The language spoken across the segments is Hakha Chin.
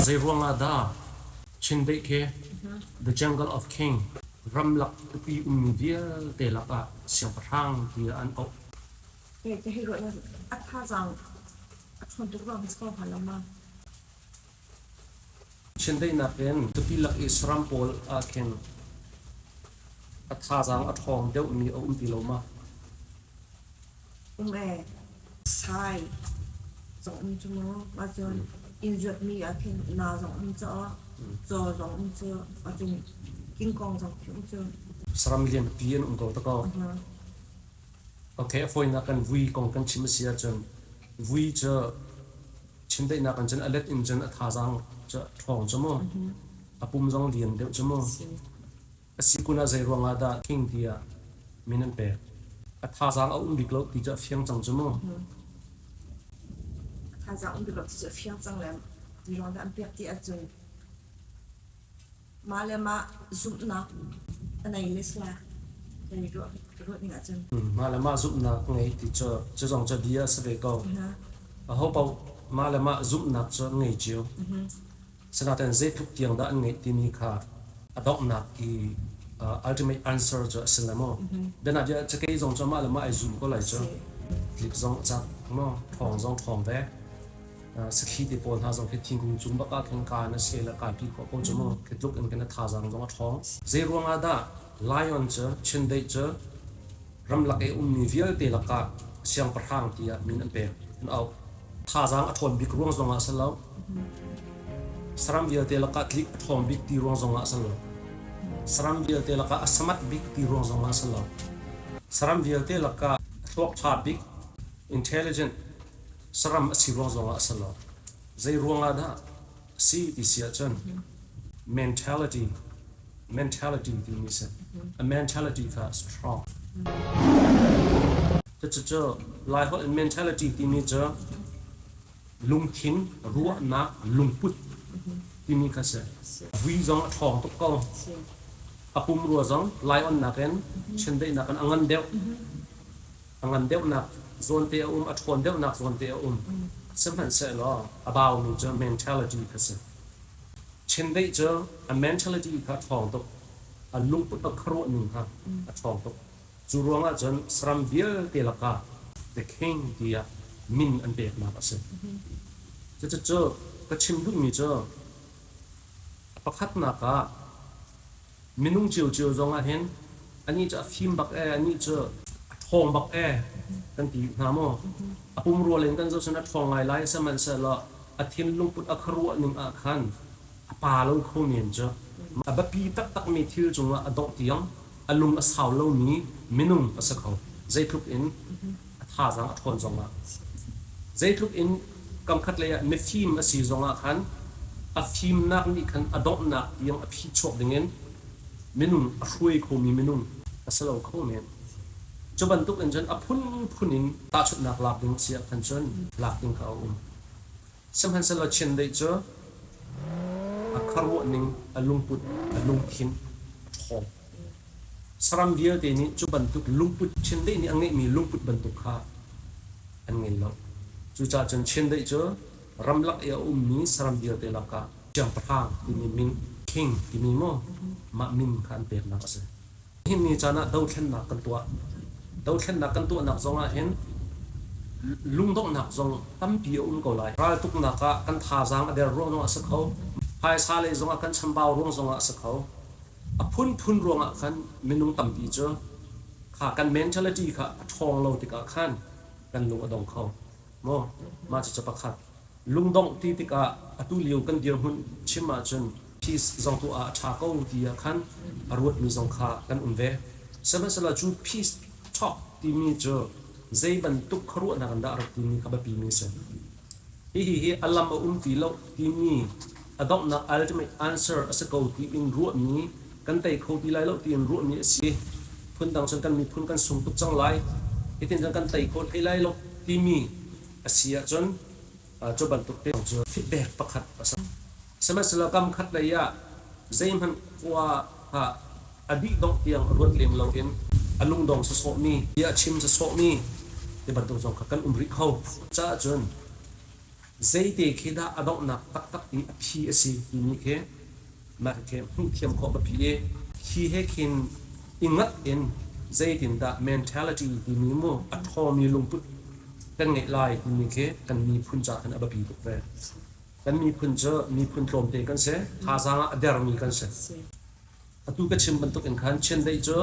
Zeiruangah dah Chindeih khi The Jungle of King ramlak tupi ummi vialte lakah siangpahrang tiah an auh? Ke hi ruahnak a thazaang a ṭhawn tuk ruang a si ko hnga lo ma? Chiandeihnak in tupi lak i saram pawl ah khin a thazaang a ṭhawng deuhmi a um ti lo ma? Um ee, sai zong um cu mu. Ahcun inn zuatmi ah khin na zong um cu, caw zong um cu, ahcun kingkong zong khi um cu. Saram lianpi an um ko ta ko. Ok, a fawinak kan vui kong kan chim a si ahcun, vui cu Chiandeihnak in cun a let in cun a thazaang cu ṭhawng cu mu, a pum zong lian deuh cu mu. A si kun ah zeiruang ah dah king tiah min an pek. A thazaang a um bik lo ti cu a fiang cang cu mu. A thazaang um bik lo ti cu a fiang cang lem. Zeiruang dah an pek ti ahcun. mah le mah zumhnak a nei le sla kan i ruah ruah ning ahcun mah le mah zumhnak ka ngei ti cu cu zong cu bia a si ve ko a ho paoh mah le mah zumhnak cu an ngei cio sinaten zeitluk tiang dah an ngeih timi kha a donghnak i uh, ultimate answer cu a si le maw biana bia cakei zong cu mah le mah ai zum ko lai cu clip zong cak mo thong zong thong ve sakhi te pawl hna zong khi thingkung cung bak ah khan kaan a si le kaan pi khawh ko cu mu khi tluk in kan a thazaang zong a ṭhawng zei ruang ah dah lion cu chindeih cu ramlak i ummi vialte lakah siangpahrang tiah min an pek an auh thazaang a ṭhawn bik ruang zong ah a si lo saram vialte lakah tlik a ṭhawm bik ti ruang zong ah a si lo saram vialte lakah a samat bik ti ruang zong ah a si lo saram vialte lakah thluak ṭha bik intelligent saram a si ruang zongah a si lo. Zeiruangah dah a si ti si ahcun mentality, mentality timi si. A mentality kha a strong. Cucu Laiholh in mentality timi cu lungthin, ruahnak, lungput timi kha si. Vui zong a ṭhawng tuk ko. A pumrua zong Laion nakin chiandeihnak in a ngan deuh. A ngan deuhnak zawnte a um, a ṭhawn deuhnak zawnte a um, sihmanhsehlaw a baumi cu mentality kha si. Chindeih cu a mentality kha a ṭhawng tuk, a lungput a khuaruahning kha a ṭhawng tuk. Cu ruangah cun saram vialte lakah the king tiah min an peknak a si. Cucu ka chim duhmi cu, pakhatnak ah, Minung ciocio zong ah hin anih cu a fim bak ee, anih cu a ṭhawng bak ee kan ti hna maw? A pumrua in kan zoh cun a ṭhawng ngai lai, sihmanhsehlaw a thinlungput a khuaruah ning ah khan a pa lo kho men cu. A biapi taktakmi thil cungah a dongh tiang a lung a sau lomi minung a si kho. Zeitluk in A thazaang a ṭhawn zongah zeitluk in kamkhat lei ah mifim a si zongah khan a fimnak nih khan a donghnak tiang a phihchuak dingin minung, a hruai khomi minung a si lo kho men. Cu bantuk in cun a phunphun in tahchunhnak lak ding a si ah khan cun lak ding kha a um. Sihmanhsehlaw chiandeih cu a khuaruahning, a lungput, a lungthin ṭhawng. Saram vialte nih cu bantuk lungput, chiandeih nih a ngeihmi lungput bantuk kha an ngei lo. Cucaah cun chiandeih cu ramlak i a ummi saram vialte lakah siangpahrang timi min, king timi maw, mah min kha an peknak a si. Nihin ni caan ah dothlennak kan tuah. Dothlennak kan tuahnak zong ahhin lungdonghnak zong tampi a um ko lai. Raltuknak ah kan thazaang a der ruang zong a si kho. Phaisa lei zong ah kan chambau ruang zong ah a si kho. A phunphun ruangah khan minung tampi cu kha kan mentality kha a ṭhawng lo tikah khan kan lung a dong kho. Maw mah cucu pakhat. Lungdongh ti tikah atu lio kan dirhmun chim ahcun peace zong tuah ah a ṭha ko ti ah khan a ruatmi zong kha kan um ve. Sihmanhsehlaw cu peace talk timi cu zeibantuk khuaruahnak in dah a rak timi kha biapimi a si. Hihi hi a lam a um ti lo timi a donghnak ultimate answer a si ko tiin ruahmi kan tei kho ti lai lo tiin ruahmi a si. Phundang cun kan miphun kan sung tuk cang lai. Hitin cun kan tei khawh hlei lai lo timi a si ahcun cu bantuk te cu feedback pakhat a si. Sihmanhsehlaw kam khat lei ah zeihmanh khua ah a dih dongh tiang ruat lem loin a lungdong sawsawhmi tiah chim sawsawhmi ti bantuk zong kha kan um rih kho. Caah cun zeite khi dah a donghnak taktak i a phi a si timi khi Mah khi hmuhthiam khawh a phi i hi he khin i ngat in zeitindah mentality timi mu a ṭhawmi lungput kan ngeih lai timi khi kan miphun caah khan a biapi tuk ve. Kan miphun cu miphun tlawmte kan si, thazaang ah a dermi kan si. Atu ka chim bantuk in khan chiandeih cu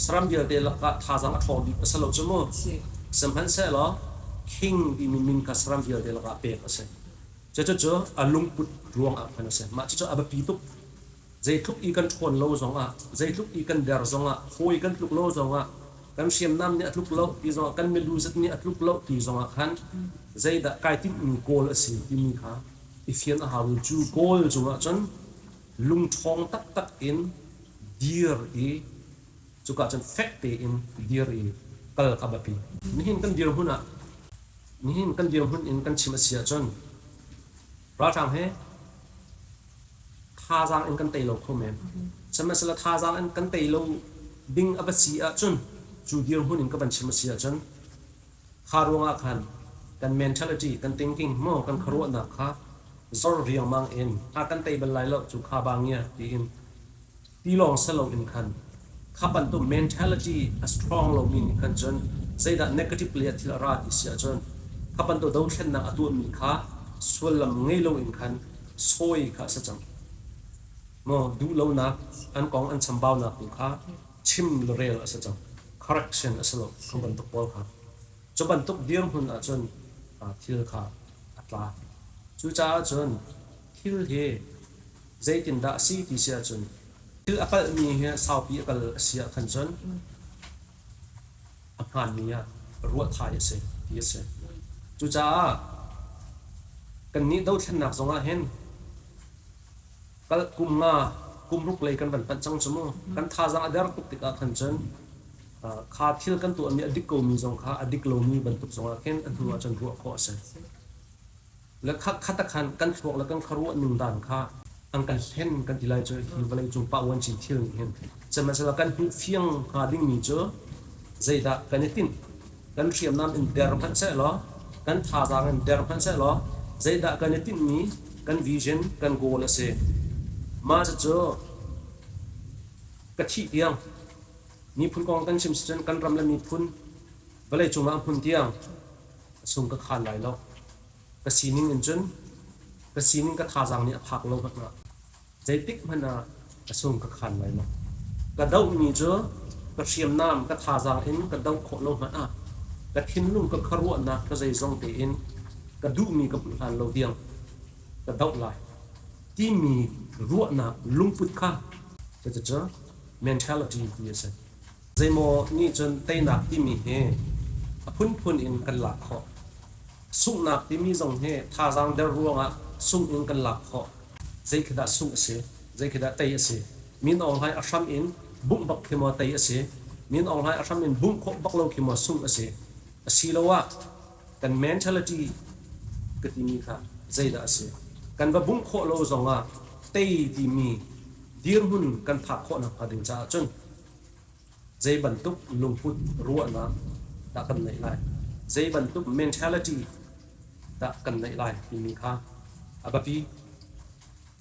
saram vialte lakah thazaang a ṭhaw bik a si lo cu mu. Sihmanhsehlaw king timi min kha saram vialte lakah pek a si. Cucu a lungput ruangah khan a si. Mah cucu a biapi tuk. Zeitluk i kan ṭhawn lo zongah, zeitluk i kan der zongah, hawi kan tluk lo zongah, kan hriamnam nih a tluk lo ti zongah, kan milu zet nih a tluk lo ti zongah khan zeidah kai timhmi kawl a si timi kha i fian a hau i cu kawl cungah cun lungṭhawng taktak in dir i cuka cun fek tein dir i kal a biapi. Nihin kan dirhmun ah nihin kan dirhmun in kan chim a si ahcun ralhrang he thazaang in kan tei lo kho men. Sihmanhsehlaw thazaang in kan tei lo ding a va si ahcun cu dirhmun in ka van chim a si ahcun kha ruangah khan kan mentality, kan thinking maw kan khuaruahnak kha zor riangmang in a kan tei bal lai lo cu kha bang ia tiin Tilawng si loin khan kha bantuk mentality a strong lomi nih khan cun zeidah negative lei ah thil a ra ti si ahcun kha bantuk dothlennak a tuahmi kha sullam ngei loin khan sawi kha a si cang maw? Duhlonak an kong an chambaunak tu kha chim le rel a si cang, correction a si lo a bantuk pawl kha. Cu bantuk dirhmun ahcun thil kha a tla. Cucaah cun thil hi Zeitindah a si ti si ahcun thil a kalhmi hi saupi a kal a si ah khan cun a hmaanmi ah ruah thai a si ti a si. Cucaah kannih dothlennak zongah hin kal kum nga kumruk lei kan van panh cang cu mu. Kan thazaang a der tuk tikah khan cun kha thil kan tuahmi a dik komi zong kha a dik lomi bantuk zongah khin a hnuah cun ruah khawh a si. Le kha khat ah khan kan thluak le kan khuaruah nundan kha an kan hlen kan ti lai cu hi vawleicung pa uanci thil nih hin sihmanhsehlaw kan hmuh fiang hnga dingmi cu zeidah kan i tinh kan hriamnam in der hmanh seh law kan thazaang in der hmanh seh law zeidah kan i tinhmi kan vision kan goal a si mah cucu ka thih tiang miphun kong kan chim si cun kan ram le miphun vawleicung ah hmun tiang a sung ka khan lai lo. Ka sining in cun ka sining ka thazaang nih a phak lo hmanh ah zeitik hmanh ah a sung ka khan lai lo. Ka dohmi cu ka hriamnam ka thazaang in ka doh khawh lo hmanh ah ka thinlung ka khuaruahnak ka zeizong tein ka duhmi ka hmuh hlan lo diang ka doh lai timi ruahnak lungput kha cucu mentality ti a si. Zeimaw nih cun teinak timi hi a phunphun in kan lak khawh. Sunghnak timi zong hi thazaang der ruangah sungh in kan lak khawh. Zeikhidah sungh a si? Zeikhidah tei a si? Min Aung Hlaing a hram in bungh bak khi maw tei a si? Min Aung Hlaing a hram in bungh khawh bak lo khi maw sungh a si? Asiloah kan mentality ka timi kha zeidah a si? Kan va bungh khawh lo zongah tei timi dirhmun kan phak khawh nakhnga ding caah cun Zeibantuk lungput ruahnak dah kan neih lai? Zeibantuk mentality dah kan neih lai timi kha a biapi.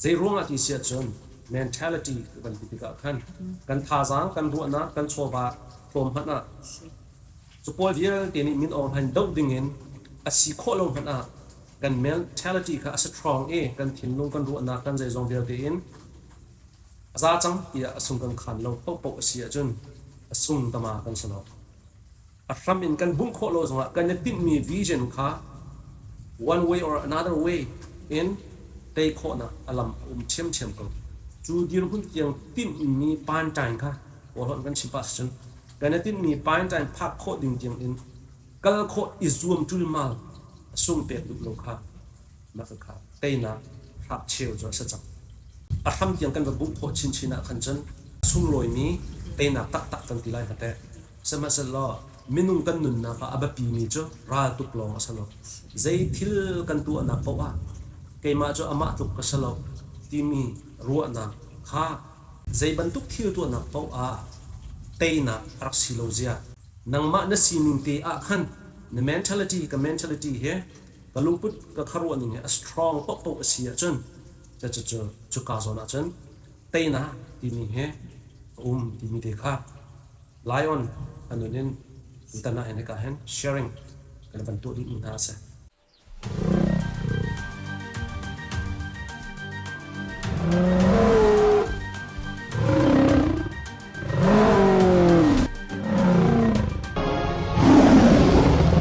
Zeiruangah ti si ahcun mentality bantuk tikah khan kan thazaang, kan ruahnak, kan chawva tlawm hmanh ah cu pawl vialte nih min aung hlain doh dingin a si khawh lo hmanh ah kan mentality kha a strong i kan thinlung, kan ruahnak, kan zeizong vialte in A za cang tiah a sung kan khaan lo paohpaoh a si ahcun a sung tama kan si lo. A hram in kan hmuh khawh lo zongah kan i tinhmi vision kha one way or another way in tei khawhnak a lam a um ṭhiamṭhiam ko. Cu dirhmun tiang tinhmi paanṭain kha kawlawnh kan chimh pah cun kan i tinhmi paanṭain phak khawh ding tiangin kal khawh i zuam ṭulmal a sung pek duh lo kha Mah kha teinak hngakcheu cu a si cang. A hram tiang kan va hmuh khawh chinchin ah khan cun sunglawimi teinak taktak kan ti lai hnga teh. Sihmanhsehlaw minung kan nunnak ah a biapimi cu raltuk lawng a si lo. Zei thil kan tuahnak paoh ah keimah cu amah tluk ka si lo timi ruahnak kha zei bantuk thil tuahnak paoh ah teinak a rak si lo zia. Nangmah na sining te ah khan na mentality, ka mentality, he ka lungput ka kharuah ning hi a strong paohpaoh a si ahcun cucu cuka zawn ahcun teina timi hi a um timi te kha lion anun in tana in hika hen sharing kan van tuah dih mi hna ase